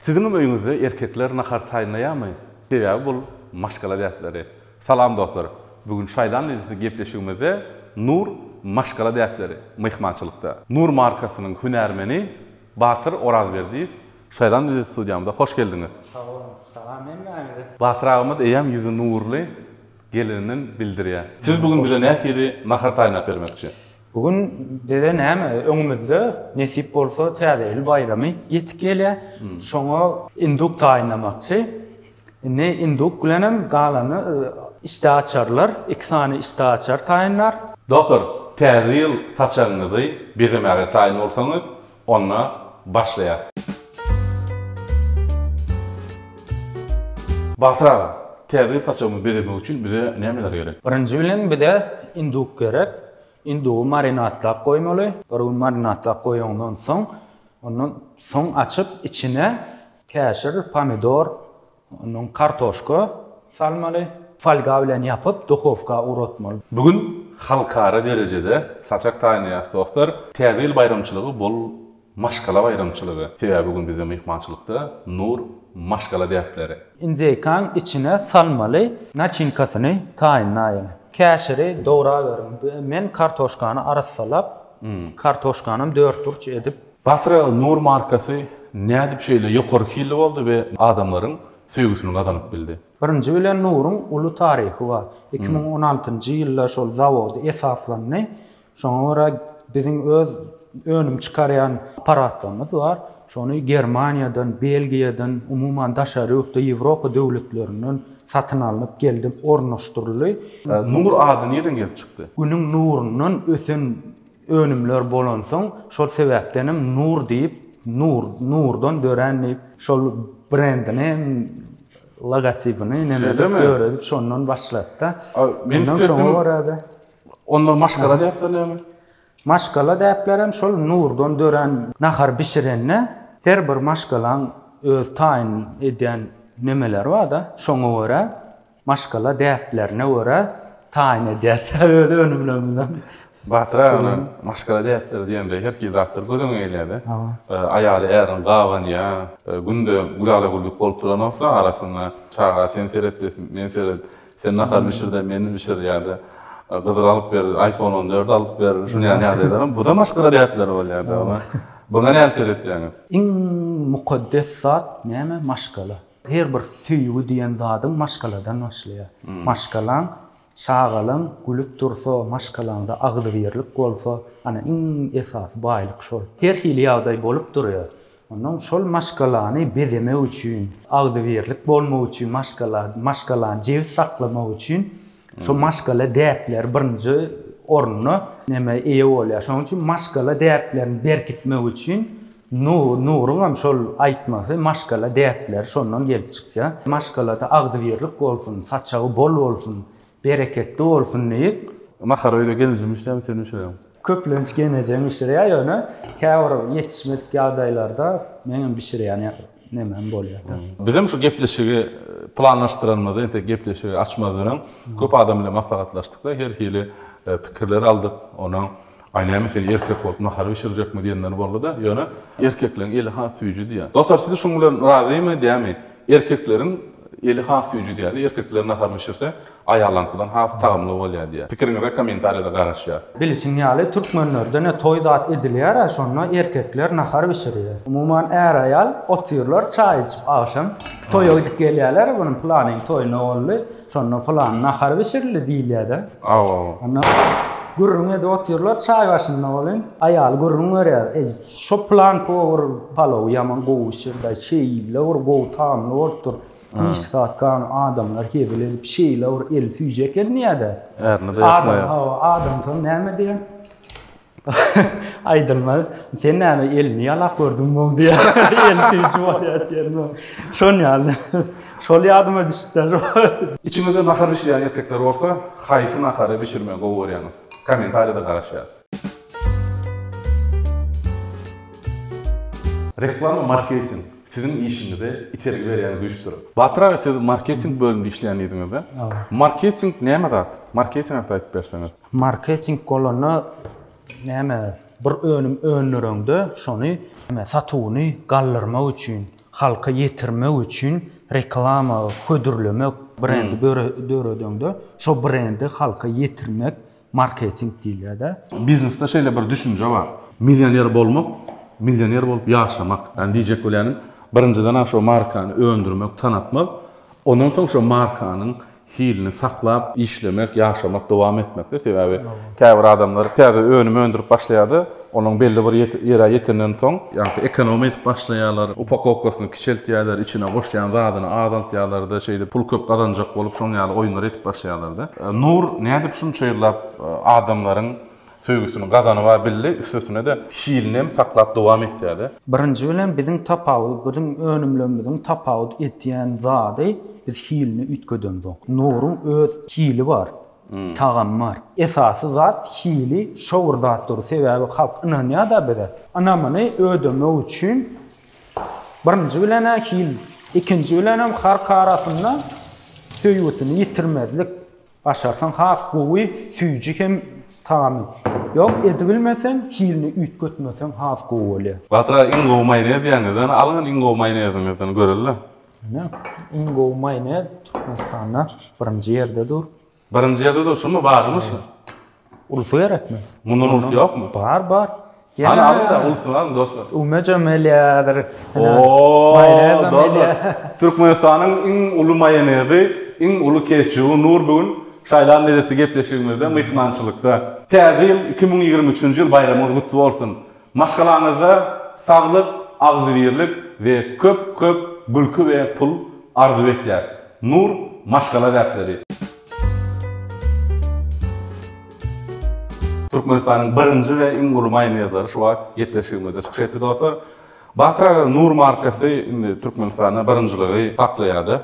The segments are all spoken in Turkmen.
Siziňem öýüňizde erkekler nahar taýynlaýamy? Sebäbi bul maşgala däpleri. Salam dostlar! Bu gün Şaýdan Lezzetli gepleşigimizde Nur maşgala däpleri myhmançylykda. Nur markasynyň hünärmeni Batyr Orazberdiýew Şaýdan Lezzet studiýamyza hoş geldiňiz! Sag boluň! Salam hemmäňize! Batyr agymyz eýýäm ýüzi nurly gelininden bildirýär. Siz bu gün bize nähili nahar taýynlap bermekçi? Bu gün bize näme, öňümizde nesip bolsa Täze ýyl baýramy ýetip gelýär. Şoňa induk taýynlamakçy. Indi induk bilenem galany işdäaçarlar, iki sany işdäaçar taýynlar. Dotor, Täze ýyl saçagyňyzy bezemäge taýyn bolsaňyz, Onda başlaýas. Batyr aga, täze ýyl saçagymyzy bezemek üçin bize nämeler gerek? Birinji bilen bize induk gerek. Indugy marinadlap goýmaly. Bir gün marinadlap goýaňdan soň, ondan soň açyp içine käşir, pomidor, Ondan kartoşka salmaly. Folga bilen ýapyp, duhowka ugratmaly. Bu gün halkara derejede saçak taýynlaýas dostlar. Täze ýyl baýramçylygy bul maşgala baýramçylygy. Sebäbi bu gün bizde myhmançylykda Nur maşgala däpleri. Injeýkaň içine salmaly. Naçinkasyny taýynlaýyň. Käşiri dograweriň. Men kartoşkany arassalap, kartoşkanam dörtburç edip Batyragyz Nur markasy nädip şeýle ýokary hilli boldy we adamlaryň söýgüsini gazanyp bildi? Birinji bilen Nuryň uly taryhy bar. Iki müň on altynjy ýylda şol zawody esaslandy. Şoňa görä biziň öz önüm çykarýan apparatlarymyz bar. Şony Germaniýadan, Belgiýadan, umuman daşary ýurtda Ýewropa döwletlerinden satyn alnyp geldi, ornaşdyryldy. Nur ady nirden gelip çykdy? Günüň nurundan ösen Önümler bolansoň, şol sebäpdenem Nur diýip, nur, nurdan dörän diýip, şol brendini, logotipini nämedir döredip, şondan başlady-da. Ondan şoňa görä-de. Onlara maşgala däpler näme? Maşgala däplerem şol nurdan dörän. Nahar bişirende her bir maşgalaň öz taýyn edýän nemeleri bar-da, şoňa görä Maşgala däplerine görä taýyn edýäris öz önümlerimizden. Batyr aga, maşgala däpleri diýende her hili zatlar göz öňüňe gelýär-de. Aýaly äriň gabanýar, günde gülala-güllük bolup duranok-da, arasynda çaga sen seret de, men seret, sen nahar bişir de, men bişir ýa-da Gyzyl alyp ber, iPhone on dört alyp ber, şunuň ýaly ýagdaýlaram, bu-da maşgala däpleri bolýar-da. Muňa nähili seretýäňiz? Iň mukaddes zat näme? Maşgala. Her bir söýgi diýen zadyň maşgaladan başlaýar. Maşgalaň, çagalaň gülüp dursa, maşgalaňda agzybirlik bolsa, ana iň esasy baýlyk şol. Her hili ýagdaý bolup durýar. Onnoň şol maşgalany bezemek üçin, agzybirlik bolmak üçin, maşgala, maşgalany jebis saklamak üçin Şo maşgala däpleri birinji orna näme eýe bolýar. Şonuň üçin maşgala däplerini berkitmek üçin Nuruň hem şol aýtmasy maşgala däpleri şondan gelip çykýar. Maşgalada agzybirlik bolsun, saçagy bol bolsun, bereketli bolsun diýip. Nahar öýde gelinjim işlär, sen bişireň. Köplenç genejem bişirýär, ýöne käbir ýetişmedik ýagdaýlarda meňem bişirýän nemem bolýar-da. Bizem şu gepleşigi planlaşdyranymyzda, entek gepleşigi açmazdan öň köp adam bilen maslahatlaşdyk-da, her hili pikirleri aldyk. Onsoň, Aý, näme sen erkek bolup nahar bişirjekmi diýenler boldy-da, ýöne erkekleň eli has süýji diýýär. Dostlar, siz şuň bilen razymy, dämi? Erkekleriň eli has süýji diýýär-de, erkekler nahar bişirse, Aýallaňkydan has tagamly bolýar diýýär. Pikiriňize kommentariýada garaşýas. Bilişiň ýaly türkmenlerde ne toý zat edilýärä şonda erkekler nahar bişirýär. Umuman är aýal otyrlar çaý içip agşam toýa gidip gelýärler bunun pylanyň toýuna boldy şonda pylan nahar bişirildi diýilýärde. Hawa. Onda gürrüň edip otyrlar çaý başynda welin aýaly gürrüň berýär eý şo pylan powar palowy ýaman gowy bişirdi şeýle bir gowy tagamly bolupdyr Hiç zat gan adamlar hezil edip şeýle bir el süýjek el niýede? Ärini de ýakmaýar. Adam hawa adam soň näme diýen? Aýdylmaz. Sen näme elini ýalap gördüň boň diýen. El süýji bolýar diýen boň. Şon ýaly. Şol ýadyma düşüpdir. Içiňizde nahar bişirýän erkekler bolsa haýsy nahary bişirmegi gowy görýäňiz? Kommentariýada garaşýas. Reklama marketing siziň işiňize itergi berýän güýçdür. Batyr aga siz marketing bölümde işleýändiňizde marketing näme zat? Marketing hakda aýdyp berseňiz. Marketing bolanda näme bir önüm öndüreňde şony satuwyny galdyrmak üçin halka ýetirmek üçin reklama hödürlemek brendi döredeňde şo brendi halka ýetirmek Marketing diýilýär-dä. Biznesde şeýle bir düşünje bar. Millioner bolmak, millioner bolup ýaşamak. Ýagny diýjek bolýanym, birinjiden-ä şo markany öndürmek, tanatmak, ondan soň şo markanyň hilini saklap, işlemek, ýaşamak, dowam etmek-de. Sebäbi käbir adamlar täze önüm öndürip başlaýar-da, Onuň belli bir ýere ýetenden soň, ýaňky ekonomiýa edip başlaýarlar, upakowkasyny kiçeltýärler, içine goşýan zadyny azaltýarlar-da, şeýdip pul köp gazanjak bolup, şoň ýaly oýunlar edip başlaýarlar-da. Nur nädip şunça ýyllap adamlaryň söýgüsini gazanyp a bildi, üstesine-de hilini hem saklap dowam etýär-de. Birinji bilen biziň tapawut, biziň önümlerimiziň tapawut edýän zady, biz hilini üýtgedenzoň. Nuryň öz hili bar, tagam bar. Esasy zat hili şo bir zat dur sebäbi halk ynanýada bize. Ynamyny ödemek üçin birinji bilenä hil ikinji bilenem halk arasynda söýgüsini ýitirmezlik başarsaň has gowy süýji hem tagamy ýok edibilmeseň hilini üýtgetmeseň has gowy bolýa. Batyr aga iň gowy maýonez ýeriňizden alyň iň gowy maýoneziňizden göreli. Ine, iň gowy maýonez Türkmenistanda birinji ýerde dur. Birinji ýerde dur, şumy, barymy şu? Ulysy gerekmi? Mundan ulysy ýokmy? Bar, bar. Hany alyň-da, ulusyny alyň, dostlar. Öwmejem elýädir. Maýonez hem elýär. Türkmenistanyň iň uly maýonezi, iň uly ketçuby Nur bu gün şaýlan lezzetli gepleşigimizde, myhmançylykda. Täze ýyl, iki müň ýigrimi üçünji ýyl baýramyňyz gutly bolsun! Maşgalaňyzda saglyk, agzybirlik we köp köp gülki we pul arzuw etýäs. Nur maşgala däpleri. Türkmenistanyň birinji we iň uly maýonezleri şu wagt gepleşigimizde çykyş etdi dostlar. Batyr aga Nur markasy indi Türkmenistanda birinjiligi saklaýarda.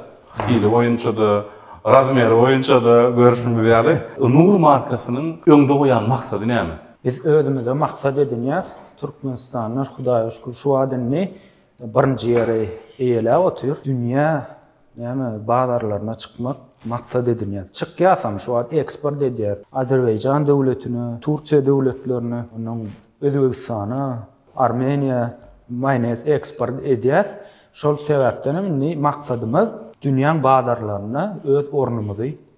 Hili boýunçada, razmeri boýunçada görüşimiz ýaly. Nur markasynyň öňde goýan maksady näme? Biz özümize maksat edinýäs, türkmenistanlar Hudaýa şükür şu wagt indi birinji ýeri eýeläp otyr. Dünýä näme bazarlaryna çykmak maksat edinýäs. Çykýasam şu wagt eksport edýäs. Azerbaýjan döwletine, Turkiýa döwletlerine, ondan Özbegistana, Armeniýa maýonez eksport edýäs. Şol sebäpdenem indi maksadymyz dünýäň bazarlarynda öz ornumyzy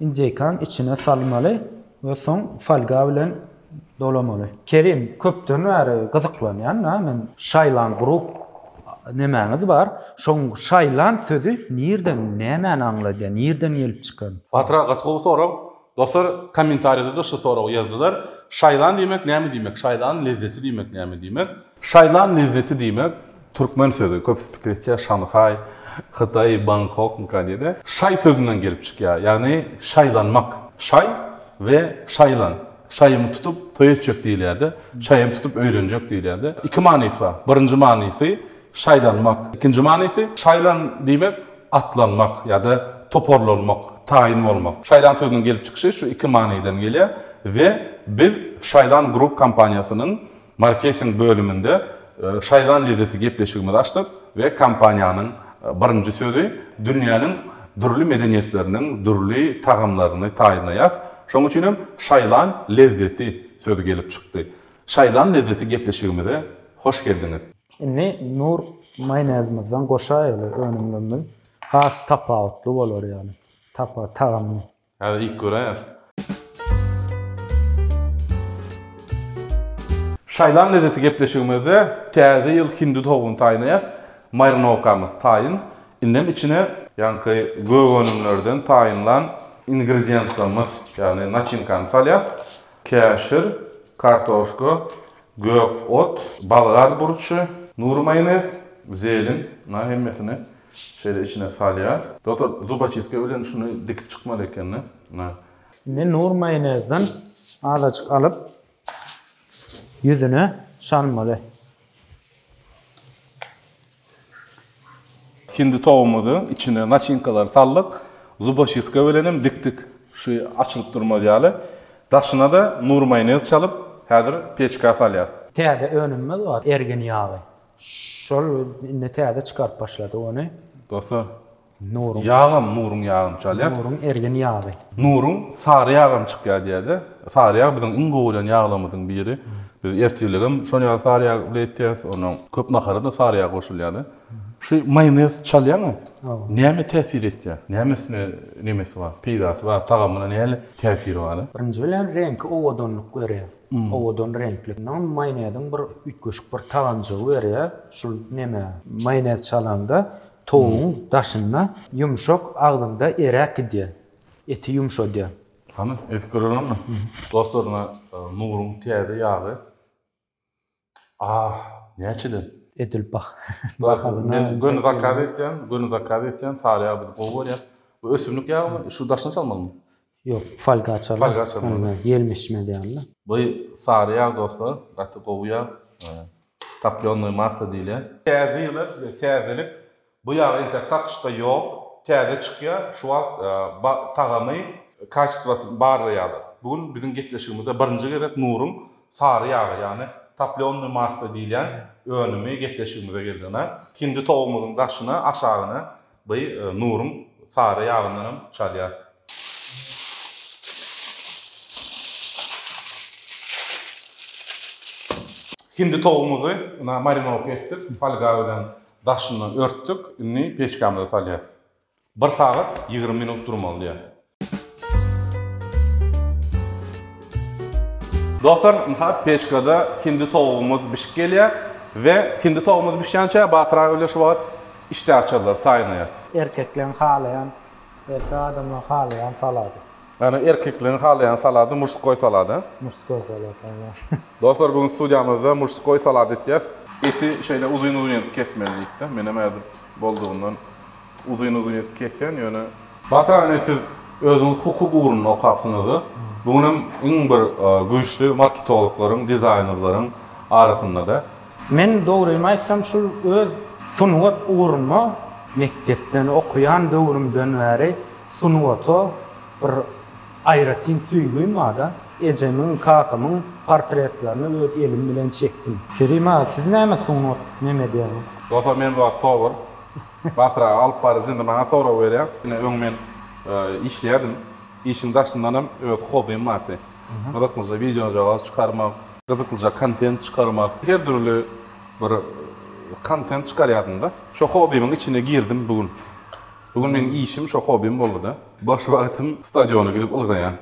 Injeýkany içine salmaly we soň folga bilen dolamaly. Kerim köpden bäri gyzyklanýan da men. Şaýlan group nemäňiz bar? Şoň şaýlan sözi nirden nämäni aňladýar nirden gelip çykan? Batyra gaty gowy sorag. Dostlar kommentariýada da şu soragy ýazdylar. Şaýlan diýmek näme diýmek? Şaýlanyň lezzeti diýmek näme diýmek? Şaýlan lezzeti diýmek türkmen sözi, köpüsi pikir etýär Şanhaý, Hytaý, Bangkokmyka diýdi. Şaý sözünden gelip çykýar, ýagny şaýlanmak. Şaý we şaýlan. Şaýymy tutup toý etjek diýilýärdi. Şaýymy tutup öýlenjek diýilýärdi. Iki manysy bar. Birinji manysy şaýlanmak. Ikinji manysy şaýlan diýmek atlanmak ýa-da toparlanmak, taýyn bolmak. Şaýlan sözüniň gelip çykyşy şu iki manydan gelýär we biz Şaýlan Group kompaniýasynyň Marketing bölüminde şaýlan lezzeti gepleşigimizi açdyk we kompaniýanyň birinji sözi dünýäniň dürli medeniýetleriniň dürli tagamlaryny taýynlaýas, şonuň üçin hem şaýlan lezzeti sözi gelip çykdy. Şaýlan lezzeti gepleşigimize hoş geldiňiz! Indi Nur maýonezimizden goşaýaly önümlerimiz has tapawutly bolar ýaly tagamyny Häzir iýip göräýeris. Şaýlan lezzeti gepleşigimizde täze ýyl hindi towugyny taýnaýas. Marinowkamyz taýyn. Indem içine. Ýaňky gök önümlerden taýynlan ingredientlerimiz, ýagny naçinkany salýas. Käşir, kartoşka, gök ot, bolgar burçy, nury maýonez, zelin, na hemmesini. Şeýle içine salýas. Doktor zubaçistka bilen şuny dikip çykmaly ekeni. Na. Indi nur maýonezden azajyk alyp ýüzüne çalmaly. Hindi towumyzy içine naçinkalary saldyk. Zubaçistka bilen hem dikdik. Şu açylyp durmaz ýaly. Daşyna da nur maýonez çalyp häzir peçka salýas. Täze önümimiz bar ergin ýagy. Şol indi täze çykaryp başlady ony. Dosta Nuryň. Ýagam Nuryň ýagyny çalýas. Nuryň ergin ýagy. Nuryň sary ýagam çykýar diýerler. Sary ýag biziň iň gowy görýän ýaglarymyzyň biri. Biz ertirligem şol ýagy sary ýag bile etýäs. Onda köp nahara-da sary ýag goşulýar-da. Şu maýonez çalýaňa näme täsir etýär? Näme üstüne nemesi bar, peýdasy bar, tagamyna näle täsiri bar? Birinji bilen reňki owadanlyk berýär. Owadan reňkli. Ynha maýoneziň bir üýtgeşik bir tagamjygy berýär şul neme. Maýonez çalanda towugyň daşynda ýumşak agzyňda eräp gidýär. Eti ýumşadýar. Hany edip göreliňmi. Dostlar ynha Nuryň täze ýagy. Ah, näçeden? Edil bah. Bahalyna. Men göni zakaz etýän, göni zakaz etýän, sary ýagy biz gowy görýäs. Bu ösümlik ýagymy, şu daşyny çalmalymy? Ýok, folga çal. Folga çalmaly. Ine, ýelmeşmez ýaly-da. Bu sary ýag dostlar, gaty gowy ýag. Toplýonnoý massa diýilýär. Täze ýyla size täzelik, Bu ýag entek satyşda ýok, täze çykýar, şu wagt tagamy, kaçestwasyn barlaýarlar. Bu gün biziň gepleşigimizde birinji gezek Nuryň sary ýagy, ýagny toplýonnyý maslo diýilýän önümi gepleşigimize geldi. Ynha, ikinji towumyzyň daşyna, aşagyna by Nuryň sary ýagyndan hem çalýarys. Hindi towumyzy ynha marinowka etdik, folga bilen. Daşyndan örtdük, indi peçkamize salýas. Bir sagat ýigrimi minut durmaly diýýär. Dostlar, mysal peçkada hindi towugymyz bişip gelýär we hindi towugymyz bişýänçä Batyr aga bilen şu wagt işdäaçarlary taýynlaýas. Erkekleň halaýan, erkek adamlaň halaýan salady. Ýagny erkekligiň halaýan salady muşskoý salada. Muşskoý salat aýwa. Dostlar bugün studiýamyzda muşskoý salat etýäs. Eti şeýle uzyn uzyn edip kesmeli diýipdir. Menem häzir boldugyndan uzyn uzyn edip kesýän ýöne. Batyr ine siz özüňiz hukuk ugrunda okapsyňyzda bugün hem iň bir güýçli marketologlaryň dizaýnerlaryň arasyndada. Men dogrymy aýtsam şul öz sungat ugruna mekdepden okaýan döwrümden bäri Sungata bir aýratyn söýgim bar-da. Ejemiň, kakamyň portretlerini öz elim bilen çekdim. Kerim aga, siz näme sungat mem edýäňiz? Doga men bar tovar. Batyraga alyp baryjy indi maňa sorag berýär. Ine öň men işleýärdim. Işiň daşyndanam öz hobim bardy. Gyzyklyja wideojagaz çykarmak, gyzyklyja kontent çykarmak, her dürli bir kontent çykarýardym-da. Şo hobimiň içine girdim bu gün. Bu gün meň işim şo hobim boldy-da. Boş wagtym stadiona gidip ylgaýan.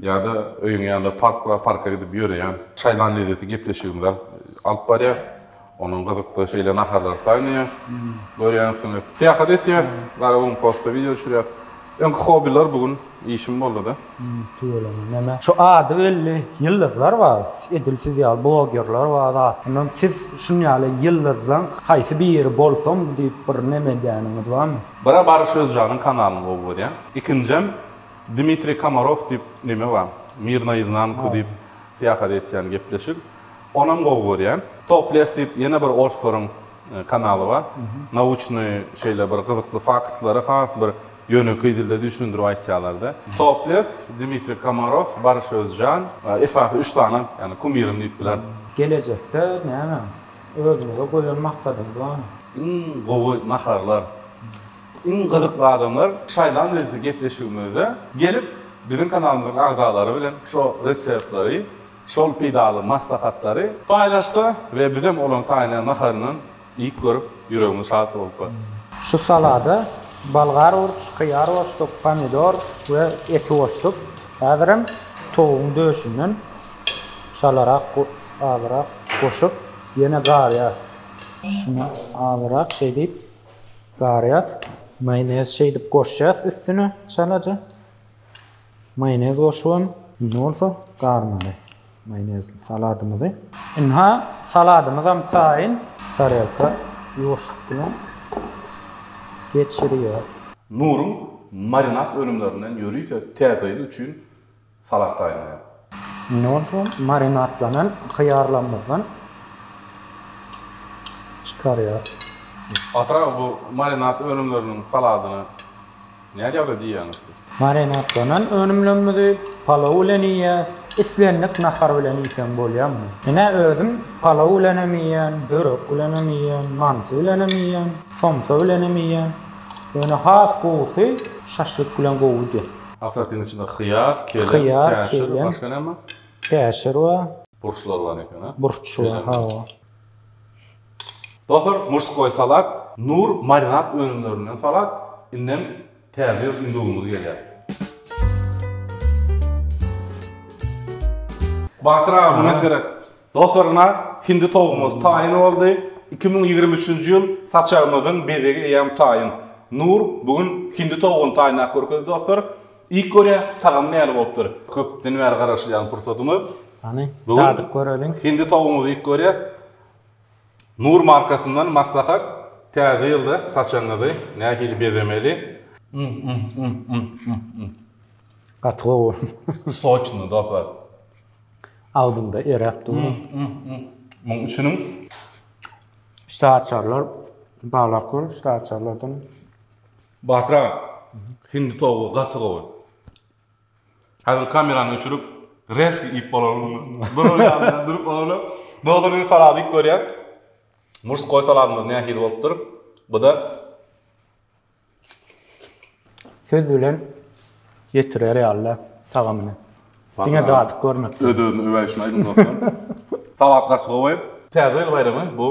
Ýa-da öýüň ýanynda park bar, parka gidip ýöreýän. Şaýlan lezzeti gepleşigimizi alyp alyp barýas. Onuň gyzykly şeýle naharlary taýynlaýas. Görýänsiňiz. Syýahat etýäs. Garagum postda wideo düşürýäs. Öňki hobiler bu gün. Işim boldy-da. Tüweleme näme? Şu ady belli ýyldyzlar bar, edil siz ýaly blogerler bar zat. Ondan siz şun ýaly ýyldyzlaň haýsy biri bolsam diýip bir neme edýäniňiz barmy? Biri Baryş Özjanyň kanalyny gowy görýän. Ikinjem Dmitriý Komarow diýip neme bar. Mir na iznanku diýip syýahat etýän gepleşik. Onam gowy görýän. Topless diýip ýene bir orslaryň kanaly bar. Nauşnyý şeýle bir gyzykly faktlary has bir Ýönekeý dilde düşündirip aýtýalarda, Toples, Dmitriý Komarow, Baryş Özjan, esasy üç sany, ýagny kumirim diýip bilerin. Gelejekde näme? Özüňize goýan maksadyňyz barmy? Iň gowy naharlar, iň gyzykly adamlar şaýlan bizi gepleşigimizde gelip biziň kanalymyzyň agzalary bilen şo reseptleri, şol peýdaly maslahatlary paýlaşsa we bizem olaryň taýýarlaýan naharyndan Iýip görüp, ýüregiňiz şat bolsa. Şu salada bolgar burç, hyýar boşluk, pomidor we eti goşduk. Häzirem towugyň döşünden çalarak azyrak goşup, ýene garýas. Şuny azyrak şeýdip garýas. Maýonez şeýdip goşýas üstüne çalaja. Maýonez goşubam. Indi bolsa garmaly maýonezli saladymyzy. Ynha, saladymyzam taýyn. Tarelka ýuwaşlyk bilen geçirýäris. Nuryň marinad önümlerinden ýörite täzeýli üçin salad taýynlaýar. Indi bolsa marinadlanan hyýarlarymyzdan çykarýarys. Batyraga bu marinad önümleriniň saladyna nädýaly diýýäňiz siz? Marinadlanan önümlerimizi palaw bilen iýýäs. Islendik nahar bilen iýseň bolýar muny. Ine özüm palaw bilenem iýýän, börek bilenem iýýän, manty bilenem iýýän, somsa bilenem iýýän. Ýöne has gowusy şaşlyk bilen gowy gidýär. Asatyň içinde hyýar, kelem, käşir, başga näme bar? Käşir bar. Burçlar bar eken a? Burç bar, hawa. Dostlar, murskoý salat, Nur marinad önümlerinden salat, indem täze ýyl ünjügimiz gelýär. Batyr aga, muňa seret. Dostlaryna hindi towugymyz taýyn boldy. Iki müň ýigrimi üçünji ýyl saçagymyzyň bezegi eýýäm taýyn. Nur bu gün hindi towugyny taýynlap görkezdi dostlar. Iýip görýäs, tagamy nähili bolupdyr. Köpden bäri garaşylýan pursadymyz. Hany, dadyp göreliň. Hindi towugymyzy iýip görýäs. Nur markasyndan maslahat, Täze ýylda saçagyňyzy nähili bezemeli? Gaty gowy. Soçny dostlar. Agzyňda eräp dur. Muň içiniň Şda açarlar, balaklar, şda açarlardan. Batyr aga, hindi towugy gaty gowy. Häzir kamerany öçürip, rezki iýip bolarmy? Duran ýaly durup ony dozoryny salady iýip görýän. Murskoý saladymyz nähili bolupdyr? Bu-da Söz bilen ýetirer ýaly-da tagamyny. Diňe dadyp görmek gerek. Öz-özüne öwäýşini aýdyň dostlar. Salat gaty gowy. Täze ýyl baýramy bu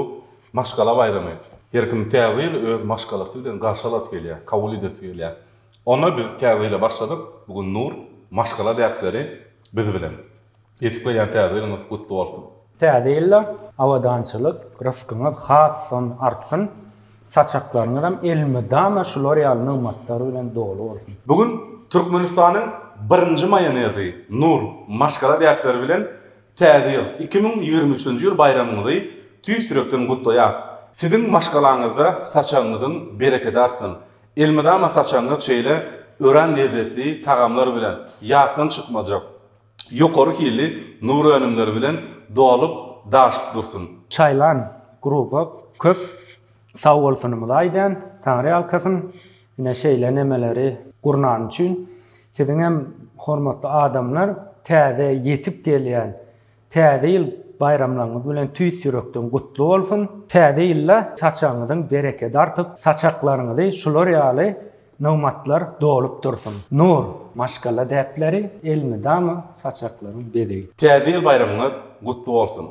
maşgala baýramy. Her kim täze ýyly öz maşgalasy bilen garşy alasy gelýär, kabul edesi gelýär. Onda biz täze ýyla başladyk. Bu gün Nur maşgala däpleri biz bilen. Petikleýän täze ýylyňyz gutly bolsun! Täze ýylda abadançylyk, ryskyňyz hasdan artsyn, saçaklaryňyzam elmydama şular ýaly nygmatlar bilen doly bolsun! Bu gün Türkmenistanyň birinji maýonezi Nur maşgala däpleri bilen Täze ýyl, iki müň ýigrimi üçünji ýyl baýramyňyzy tüýs ýürekden gutlaýarys! Siziň maşgalaňyzda saçagyňyzyň berekedi artsyn! Elmydama saçagyňyz şeýle örän lezzetli tagamlar bilen, ýatdan çykmajak, ýokary hilli nur önümleri bilen dolup daşyp dursun. Çaýlan gruba köp sagbolsunymyzy aýdýan Taňry ýalkasyn ine şeýle nemeleri gurnany üçin siziň hem hormatly adamlar täze ýetip gelýän täze ýyl baýramlaryňyz bilen tüýs ýürekden gutly bolsun täze ýylda saçagyňyzyň berekedi artyp saçaklaryňyzy şular ýaly Nomatlar dolup dursun. Nur, maşgala däpleri, elmydama saçaklaryň bezegi. Täze ýyl baýramyňyz gutly bolsun!